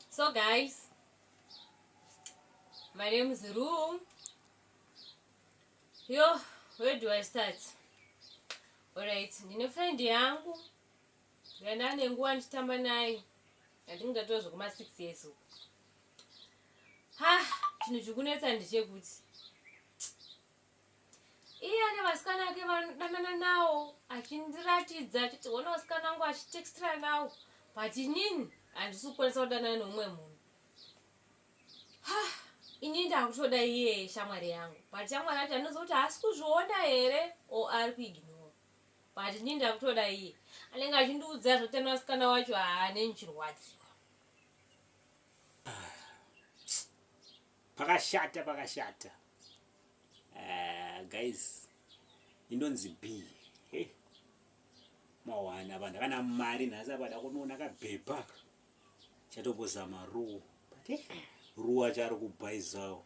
so guys my name is room yo where do i start alright ndine friend yangu yandane nguva ndichitamba naye andinge ndatova zvekuma six years uku ha chinhu chikunetsa ndechekuti iye ane vasikana ake vanodanana nawo achindiratidza achiti hona vasikana angu achitextra nawo but inini handisi kukwanisa kudanana neumwe munhu ha ini ndakutoda iye shamwari yangu but shamwari yacho anonzi kuti haasi kuzviona here o ari kuignora but ini ndakutoda iye anenge achindiudza zvotana vasikana wacho haane ndichirwadziwa pakashata pakashata uh, guys indonzi b hey. mawana vanhu akana mari nhasi avada kunoona kabhebha chatombozama ruwa but hey, eh, ruwa chari kubhaizawo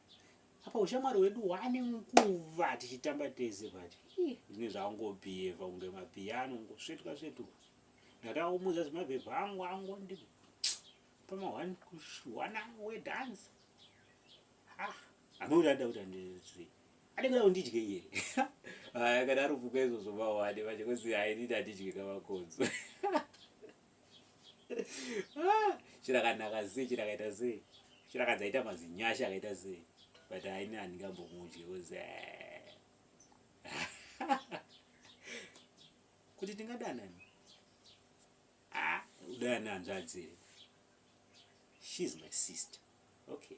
apa ushamwari hwedu hwane nguva tichitamba tese but zvine zvangobhiyevha kunge mapiyano ngosvetwa svetwa ndataumuza zvimabhebha angu angondi Toma one kush one we dance. Ah, anoda da kuti ndizvi. Ade kuda kundidye iye. Aya kana ari kufuka izvo zvo mawadi vaje kuzi ayi ndida ndidye ka makonzo. Ah, chira kana kazi chira kaita sei? Chira kaza ita mazinyasha kaita sei? But ayi ni andingambo mudye kuzi. Kuti tingadanani? ah udaya nehanzvadzi here she is my sister okay